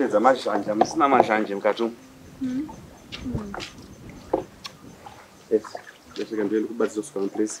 kupedza mazhanja musina mazhanje mukati umu ndosaka ndoenda kubatsira kusuka mapuresi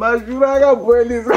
mazvura akaboiliswa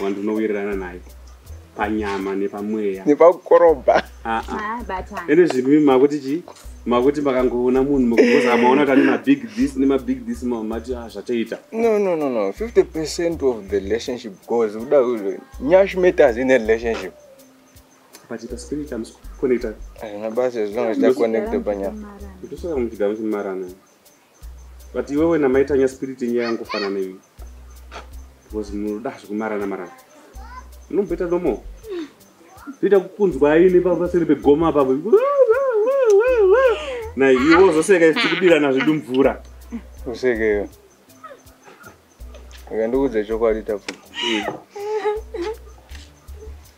wandinowirirana naye panyama nepamweya nepakukorobha ah, ah. ende zvimi makuti chii makuti makangoona munhu mukukoza maona kuti ane mabig this nemabig this mamati ah, zvatoita no no no no 50 percent of the relationship goes kuda nyash matters in a relationship but ita spirit amusi kuconnecta hazvina basa as long as taconnecta panyama ndosaka muchigamuchimarana but iwe wena maitanya spirit yenyu yayangofanana iwi because munoda hazvo kumarana marana munomboita nomo zviita kukunzwa aine paseri pegoma pavo na iwo zvoseka isi tikudirana zvedu mvura usekeyo akandikuudza chokwadi tapfuka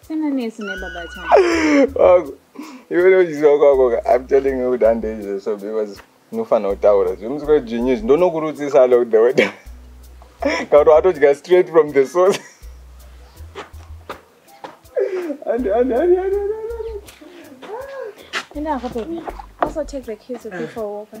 Sina nesu nebaba chana. Wako. Iwe ndochiziva kwako ka. I'm telling you kuti ande izvo so because unofanira kutaura. Zvimusikwa zvinyu izvi ndonokurudzisa alo the way. Kauri watodya straight from the source. Ande ande ande ande. Enda hapo baby. Also take the kids with you for a walk. Eh?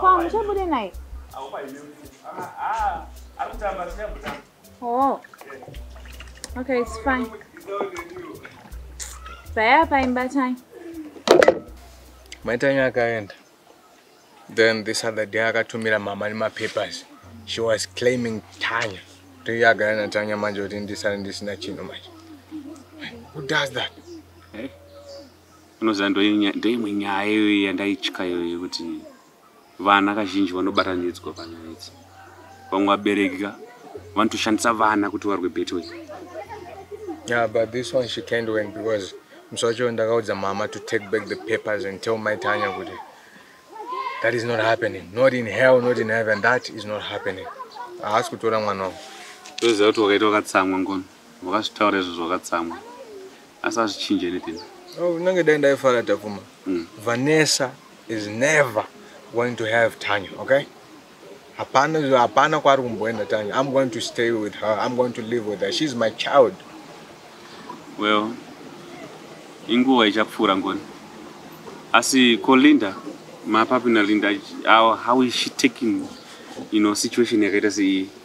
Kwa muchabude naye? Oh. Okay, it's fine. Paya paimba time. Maitanya akaenda. Then this other day akatumira mama nemapapers. She was claiming Tanya. Toiye agara naTanya manje kuti ndisare ndisina chinhu manje. Who does that? unoziva ndoimwe nyaya iyoyo yandaitya iyoyo yekuti vana kazhinji vanobatanidzwa panyaya idzi vamwe vabereki ka vanotoshandisa vana kuti varwe beto iyi yeah but this one she can't win because musi wacho ndakaudza mama to take back the papers and tell my tanya kuti that is not happening not in hell not in heaven that is not happening haasi kutora mwana wangu toziva kuti wakaita wakatsamwa ngono Wakazvitaura izvo zvakatsamwa. Asi azvichinje anything. No, unenge dai ndaifara Takuma. Mm. Vanessa is never going to have Tanya, okay? Hapana hapana kwari kumboenda Tanya. I'm going to stay with her. I'm going to live with her. She's my child. Well, inguva ichapfuura ngoni. Asi ko Linda, mapapi na Linda, how, how is she taking, you know, situation yakaita seiyi?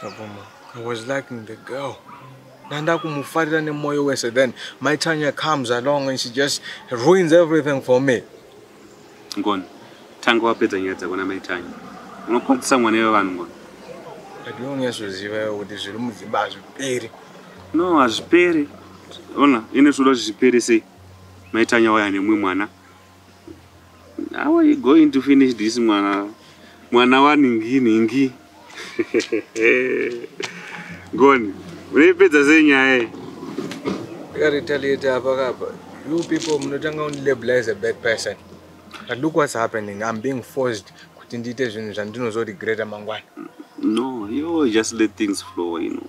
Aboma, I was liking the girl. Nanda kumufarira nemoyo wese then my Tanya comes along and she just ruins everything for me. Ngoni, tanga wapedza nyaya dzako na my Tanya. Unokwadzisa mwana iwe vanhu ngoni. But you only so ziva kuti zviri mudzimba hazviperi. No, hazviperi. Ona, ine zvoda zviperi sei? My Tanya waya nemwe mwana. How are you going to finish this mwana mwana waningi ningi goni unoipedza sei nyaya iyi akaretaliate apa kapa you people munotanga unilabel as a bad person but look what's happening i'm being forced kuti ndiite zvinhu zvandinozoregreta mangwana no you just let things flow you know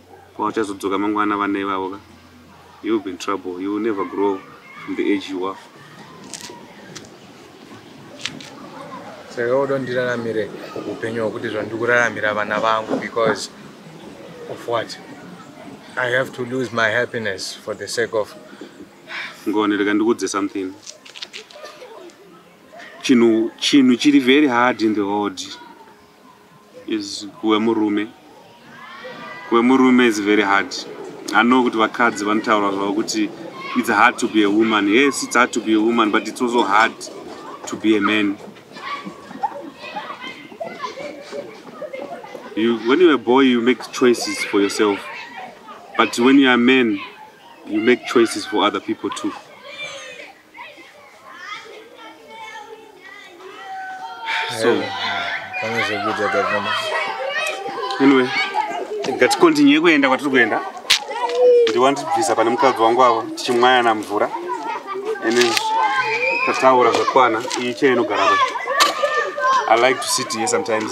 Kwavachazodzoka mangwana vana ivavo ka. You will be in trouble. You will never grow from the age you are. Saka woda ndiraramire upenyu hwekuti zvandiri kuraramira vana vangu because of what? I have to lose my happiness for the sake of Ngone rega ndikuudze something. Chinhu chinhu chiri very hard in the world. is kuve murume kuve murume is very hard i know kuti vakadzi vanotaura zvavo kuti it's hard to be a woman yes it's hard to be a woman but it's also hard to be a man you, when you're a boy you make choices for yourself but when you're a man you make choices for other people too so pane zvekuita tavona anyway ngatikontinye kuenda kwatiri kuenda ndiwandibvisa pane mukadzi wangu avo tichimwayana mvura and tataura zvakwana iyi chaiinogara i like to sit here sometimes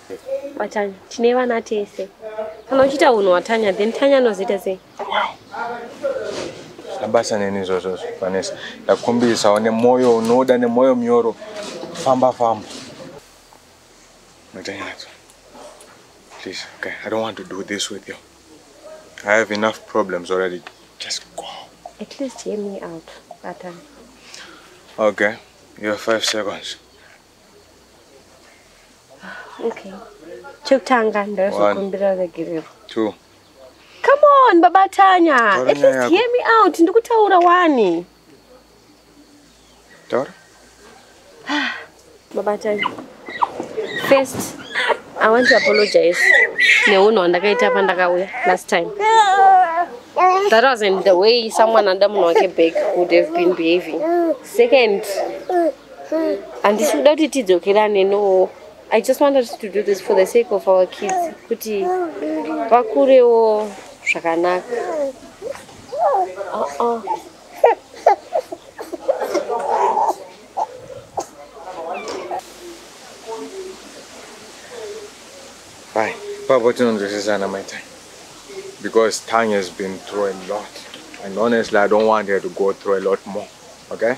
Watanya, tine vana tese. Kana uchita unhu watanya, then Tanya anozita sei? Labasa neni izvozvo Vanessa. Ndakumbirisawo nemoyo unoda nemoyo munyoro. Famba famba. Watanya. Please, okay. I don't want to do this with you. I have enough problems already. Just go. At least hear me out, Watanya. Okay. You have five seconds. okay chekutanga ndaizokumbira regerero two come on baba tanya at least hear me out ndikutaura wani taura baba tanya first i want to apologize neunhu hwandakaita pandakauya last time that wasn't the way someone under munhu wake back would have been behaving second handisi kuda kuti tidzokerane no i just wanted to do this for the sake of our kids kuti vakurewo zvakanaka uh-uh. Hi, Papa Tinondresesana, my time. Because Tanya's been through a lot. And honestly, I don't want her to go through a lot more. Okay?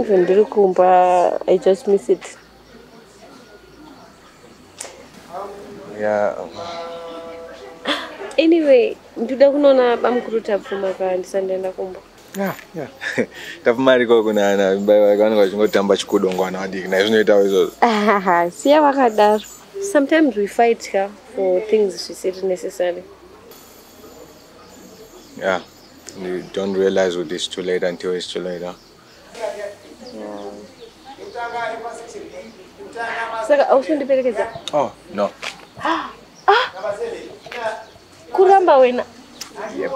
Even ndiri kumba I just miss it. Yeah. Anyway, ndoda kunoona bamukuru Tapfuma ka ndisandaenda kumba. Yeah, yeah. Tapfuma ariko kuna ana baba vanenge vachingotamba chikudo ngwana vadiki naye zvinoitawo izvozvo. Aha, siya vakadaro. Sometimes we fight ka for things zvisiri necessary. yeah you don't realize what is too late until it's too late huh? saka ausundiperekedza oh no ah, ah. kuramba wena yep.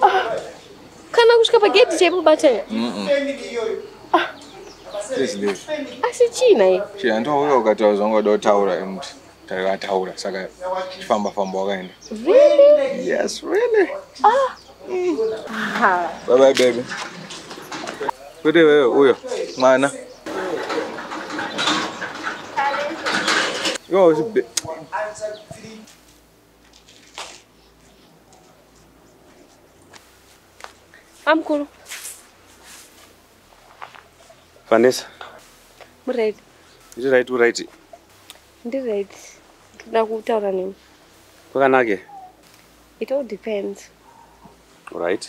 ah. kana kusvika pagedhi chaipo batanya mm -mm. ah. asi chii naye chii handouya ukataura zvangoda kutaura emuti takataura saka chifamba famba wakaenda really? yes really ah. mm. bye bye baby kuti wewe uyo mwana Yo, Amkulu. Vanessa. Muri right. Ndiri right, uri right. Ndiri right. Ndoda kutaura nemi. Kwakanake? It all depends. All right.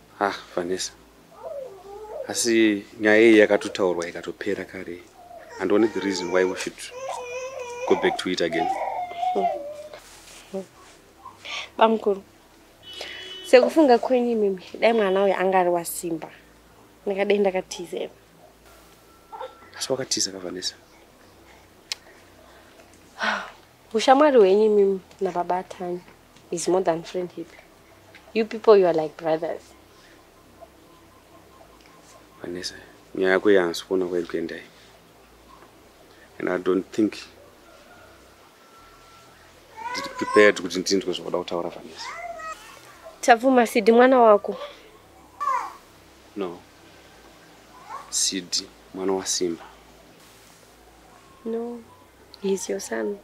Ah, Vanessa. Asi nyaya iyi yakatotaurwa ikatopera kare. And only the reason why we should go back to it again. Bamkuru. Sekufunga kwenyu mimi, dai mwana uyu anga ari wasimba. Ndingadai ndakatiza iwe. Asi wakatiza ka Vanessa. Ushamwari hwenyu mimi nababa Tanya. is more than friendship you people you are like brothers vanesa nyaya yako yansi kuona kwairi kuendai and i don't think ndiri prepared kuti ndinzwe zvakuda kutaura vanesa tabvuma sidi mwana wako no sidi mwana wasimba no he is your son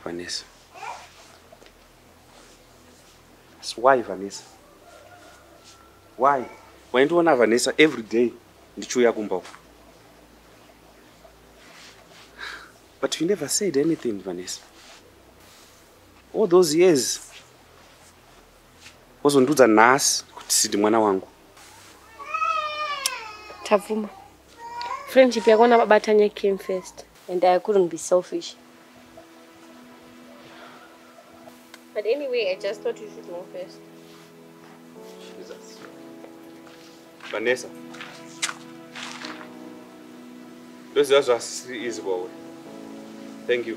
Vanessa. So why Vanessa? Why? Waindiona Vanessa every day ndichiuya kumba uko. But you never said anything Vanessa. All those years wozondiudza nhasi kuti sidi mwana wangu tabvuma friendship yako nababa tanya came first and i couldn't be selfish but anyway i just thought you should know first Jesus. Vanessa. Ndoziva zvasisiri easy kwauri. Thank you.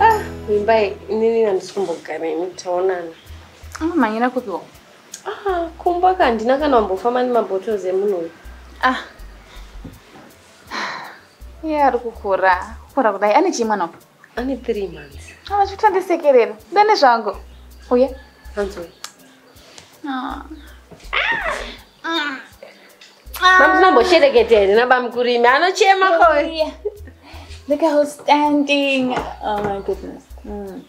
Ah, Mimbai, inini handisi kumbogara ini taonana. Amamhanyira kupi wo? Ah, kumba ka handina kana wambofamba nemabottles emunhu uyu. Ah. Iye ari kukura. Kukura kudai ane chii mwana uyu? ane three months ava chikutondisekerera ndane zvangu uye hanzoi ah. mamzinomboshereketa here nabamkurimi anochema ko look how standing oh my goodness mm.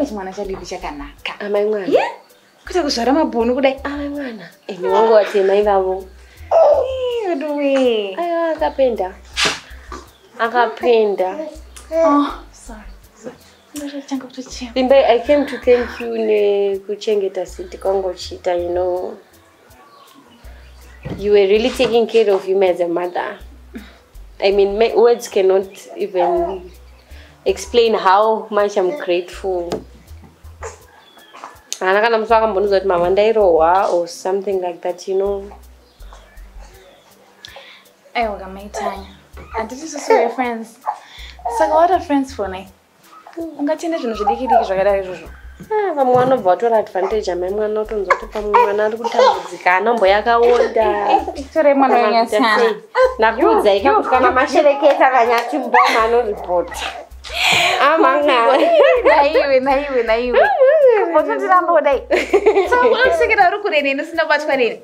chimwana chadidi chakanaka amai mwana yeah? kuita kuzvara mabhunu kudai amai mwana ini wangu watemai vavo veduwe aya akapenda akapenda oh, Limbai, I came to thank you nekuchengeta siti kwangu chita, you know. you were really taking care of him as a mother i mean my words cannot even explain how much i'm grateful haana kana musi vakambonudza kuti mama ndairohwa or something like that you know aiwa kamaitanya handiti susu wefriends saka what are friends for ne ungatende zvinhu zvidiki diki zvakadai izvozvo ah, vamwe vanobva vatora advantage amai mwana otonzwa kuti pamwe mwana ari kutambudzika anombo yakaonda tore mwana wenyasana nakuudzai kakuti kana mashereketa kanyati mboma anoripota amanaiwe naiwe naiwe botondiramba kudai so unosekera uri kure neni usina kubatwa neni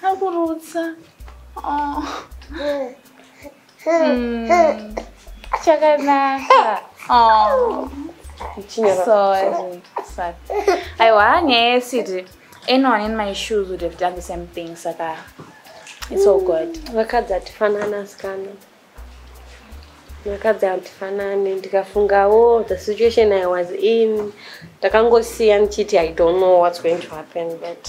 akurutsa ah, ah. oh. Mm. Chakanaka. Oh. Sorry. Sorry. Aiwa nyaya yesiti anyone in my shoes would have done the same thing saka it's all good. Vakadzi hatifanana asikana. Vakadzi hatifanani ndikafungawo the situation I was in ndakangosiya ndichiti I don't know what's going to happen but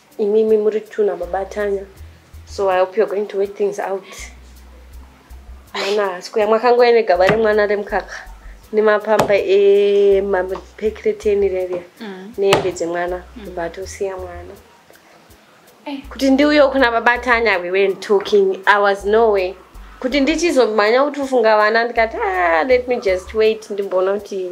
imimi muri two nababa tanya so i hope you're going to wait things out mwana sikuya mwakangoya negaba remwana remukaka nemapamba emapekreteni reria mm. nehembe dzemwana bva mm. tosiya mwana eh. kuti ndiuyo kuna baba tanya we went talking i was no way kuti ndichizomhanya kuti ufunga vana ndikati ah, let me just wait ndimboona kuti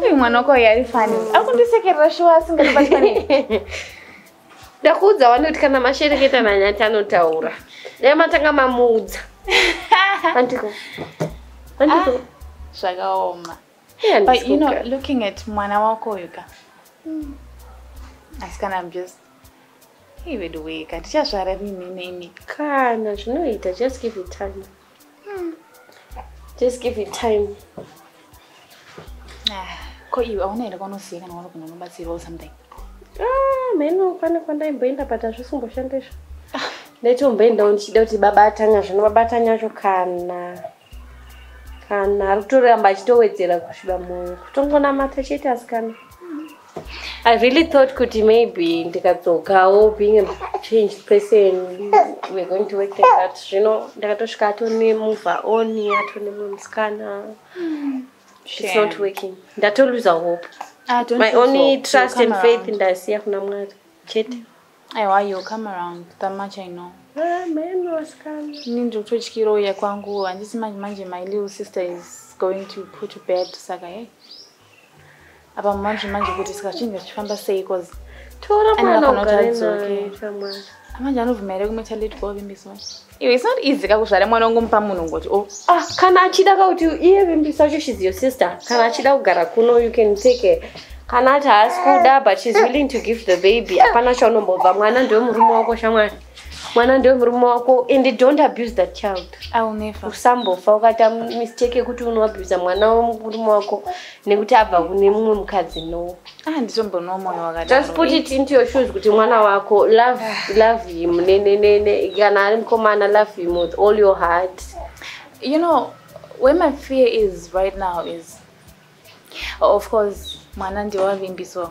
Uyu mwana wako uyu ari fani. Ari kundisekerera shuwa asingadi batsani. Ndakuudza wani kuti kana mashereketa nanyati anotaura. Dai matanga mamuudza. Andiko. Andiko. Ah, zvakaoma. Yeah, But you know, looking at mwana wako uyu ka. Hmm. Asikana I'm just Hey, weduweka, tichazvara rini nemi. Kana zvinoita, just give it time. Just give it time. Ah, ko iwe hauna here kwaunoziva kana wari kuno unobatsirwa or something? Ah, mheno pane kwandaimboenda but hazvisimboshanda izvo. Ah. Ndaitomboendawo ndichida kuti baba atanya zvino baba atanya acho kana kana ari kutoramba achitowedzera kusviba mwoyo kutongonamata chete asikana. I really thought kuti maybe ndikadzokawo being a changed person we're going to work like that zvino ndakatosvika atone move on atone mumwe musikana hmm. it's not working ndatoluza hope ah, my only trust and faith ndasiya kuna mwari chete aiwa you come around that much i know ah, ini ndiri kutotyira uya kwangu handisi manje manje my little sister is going to put to bed saka hey apa manje manje kuti saka chinhu chichifamba sei bcause tora mwana ugare naye shamwari amanje anobvuma here kumweta late kovimbiswa iwe it's not easy kakuzvara mwana wangu mupa munhu ngoti o oh. ah, kana achida kakuti iye vimbisa wacho shes your sister kana achida kugara kuno you can take a kana ati haasi kuda but shes willing to give the baby hapana chaunombobva mwana ndewe murume wako shamwari mwana ndiwe murume wako and don't abuse that child usambofa ukaita mistake yekuti unoabusa mwana wemurume wako nekuti abva kune mumwe mukadzi no ah, just put it into your shoes kuti mwana wako love love him nenenene kana ari mukomana love him with all your heart you know where my fear is right now is of course mwana ndiwavimbiso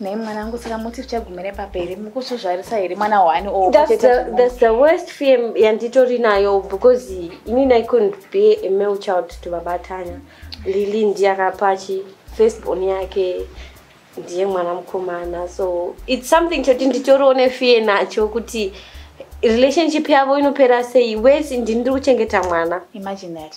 Nei mwana wangu saka muti tichagumira papi here mukuzvizvarisa here mwana wani oh, that's the worst fear yanditori nayo because inini i couldn't be a male child to baba tanya lili ndiye akapachi first born yake ndiye mwana mukomana so its something choti nditoriwo nefear nacho kuti relationship yavo inopera sei wese ndini ndiri kuchengeta mwana imagine that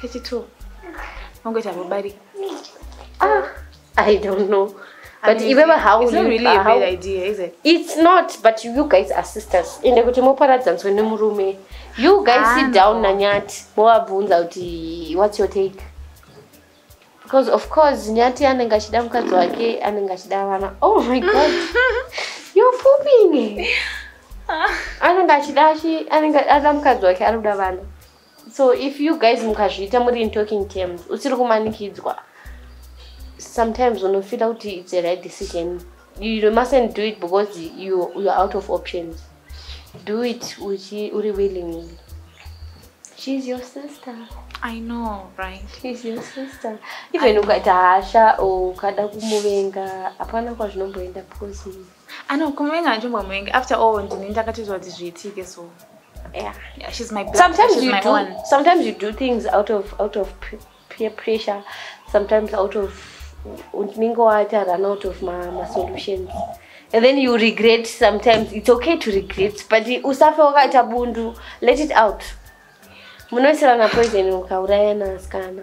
kechitwo vangoita vabarika ah i don't know but iwe vahaits not but you guys are sisters ende kuti moparadzanzwe nemurume you guys ah, sit down nanyati movabvunza kuti whats your take because of course nyati anenge achida mukadzi wake anenge achida vana oh my god you're pooping anenge achida anenge ada mukadzi wake anoda vana so if you guys mukazviita muri in talking terms usiri kumanikidzwa sometimes unofila kuti its a right decision you mustn't do it because you, you're out of options do it uchi uri willingly she's your sister i know right she's your sister even ukaita hasha ukada kumuvenga hapana kwazvinomboenda posive Ano kumuvenga anjombomuvenga after all ndini ndakatoziva kuti zviitike so yeah. yeah, she's my blood. Sometimes she's you my do one. sometimes you do things out of out of peer pressure, sometimes out of unenge waita run out of ma, ma solutions and then you regret sometimes it's okay to regret but usafe wakaita bundu let it out munoisirana poison mukaurayana asikana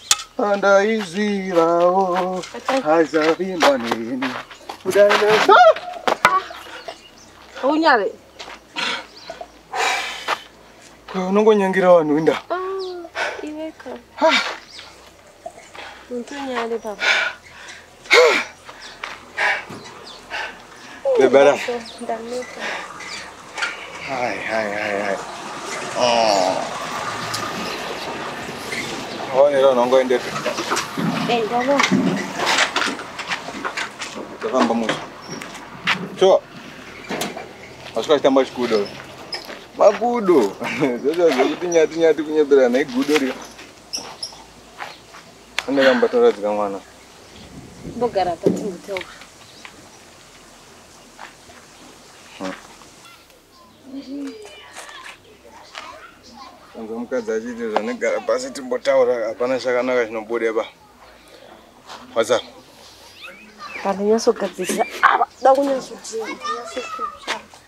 Andaizivawo hazavimba neni. Unyare. Unongonyangira vanhu inda. Ah, iweka. Untunyare baba. Bebara. Hai, hai, hai, hai. Oh. Hone ro nongo ende. Enda lo. Tafamba mucho. Cho. Asika chitamba chikudo. Makudo. Zvezvo zvekuti nyati nyati kunyeberana igudo ri. Ande kamba toradzika mwana. Bogara pati mutewa. Unza mukadzi achiti zvanegara pasi timbotaura hapana chakanaka chinobude pa. What's up? Vanhu nyasogadzirisa ava. Da kunyasoti.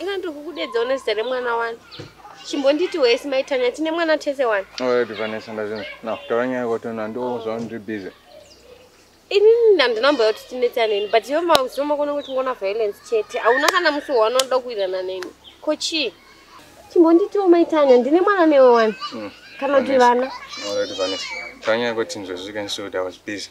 ikandokukudedza une zita remwana wani chimbonditi wese maitanya tine mwana tese wani vanesa ndazvinzi nakutaura nyaya kwatona ndozva ndiri busy inini handina mboya kuti tinetsa neni but iwe mazivo makona kuti ngona violence chete hauna kana musi waunoda kuirana neni ko chii chimbonditiwo maitanya ndine mwana newe wani hmm. kana kuti vana taura nyaya kwatini zvazvikanisota was busy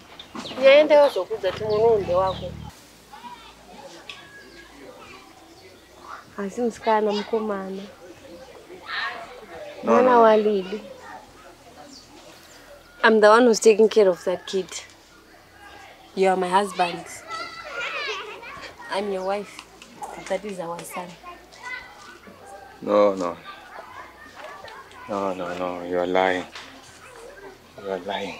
Yaendewo zvokudza tumwe nounde wako. Asi musikana mukomana. Mwana wa Lily. I'm the one who's taking care of that kid. You are my husband. I'm your wife. That is our son. No, no. No, no, no. You're lying. You're lying.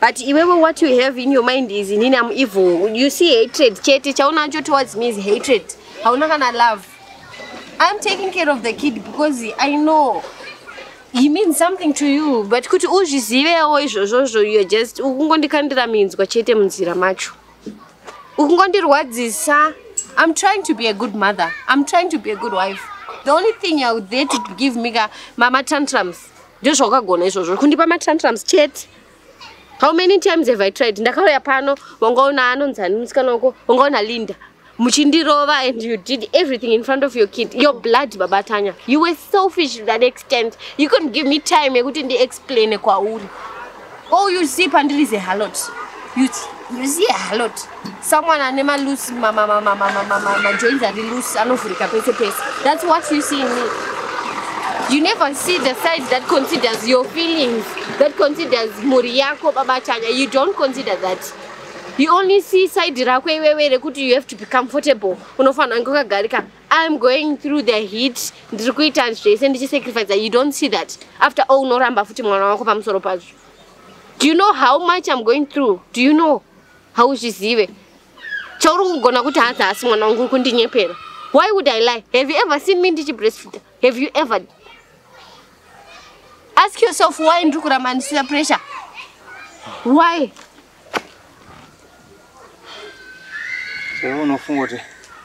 but iwewe what you have in your mind is inini am evil you see hatred chete chaunacho towards me is hatred hauna kana love i'm taking care of the kid because i know he means something to you but kuti uzvizivewo izvozvozvo you're just ukungondikandira minzwa chete munzira macho ukungondirwadzisa i'm trying to be a good mother i'm trying to be a good wife the only thing you're there to give me ka mama tantrums ndizvo wakagona izvozvo kundipa matantrums chete how many times have i tried ndakauya pano wangaona anonzani musikana wako wangaona linda muchindirova and you did everything in front of your kid your blood baba tanya you were selfish to that extent you couldn't give me time yekuti ndiexplaine kwauri all you see pandiri is a halot you, you see a halot someone ane maloose majoins ari loose anovhurika pese pese thats what you see in me you never see the side that considers your feelings that considers mhuri yako baba chanya you don't consider that you only see side rako iwewe rekuti you have to be comfortable unofanira kunge wakagarika iam going through the heat ndiri kuita zvese ndichisacrifica you don't see that after all unoramba futi mwana wako pamusoro pazvo do you know how much iam going through do you know hauzvizive chauri kugona kuti hanzi haasi mwana wangu uri kundinyepera why would i lie have you ever seen me ndichi breastfeed have you ever ask yourself why ndiri kuramba ndisina pressure why unofunga kuti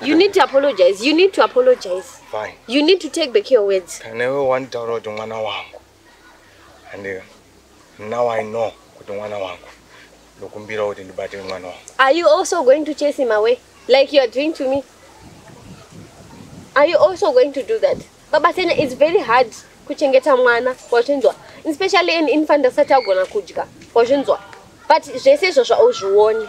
You need to apologize. You need to apologize. Fine. You need to take back your words. Kana iwe wanditaura kuti mwana wangu. And now I know kuti mwana wangu. Ndokumbira kuti ndibate mwana wangu. Are you also going to chase him away like you are doing to me? Are you also going to do that? Baba Sena, it's very hard kuchengeta mwana wazvinzwa especially an infant asati agona kudya wazvinzwa but zvese izvozvo auzvioni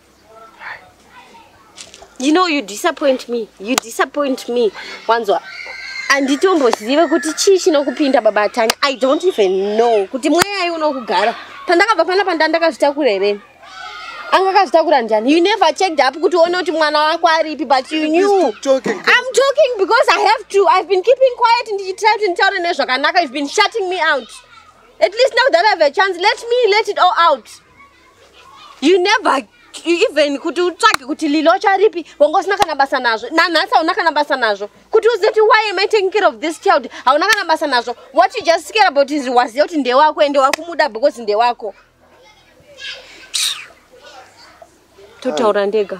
you know you disappoint me you disappoint me wanzwa handitombozive kuti chii chinokupinda baba tanya i don't even know kuti mweyai unokugara pandakabva pana panda ndakazvitakura here anga akazvitakura ndiani you never checked up kuti uone kuti mwana wako aripi but you knew i'm talking because i have to i've been keeping quiet ndichitira kuti nditaure nezvakanaka you've been shutting me out at least now that i have a chance let me let it all out you never even kuti utsvage kuti lilocha ripi wanga usina kana basa nazvo nanhasi hauna kana basa nazvo kuti uzive kuti why am i taking care of this child hauna kana basa nazvo what you just care about is waziva kuti ndewako ende wakumuda because ndewako totaura ndega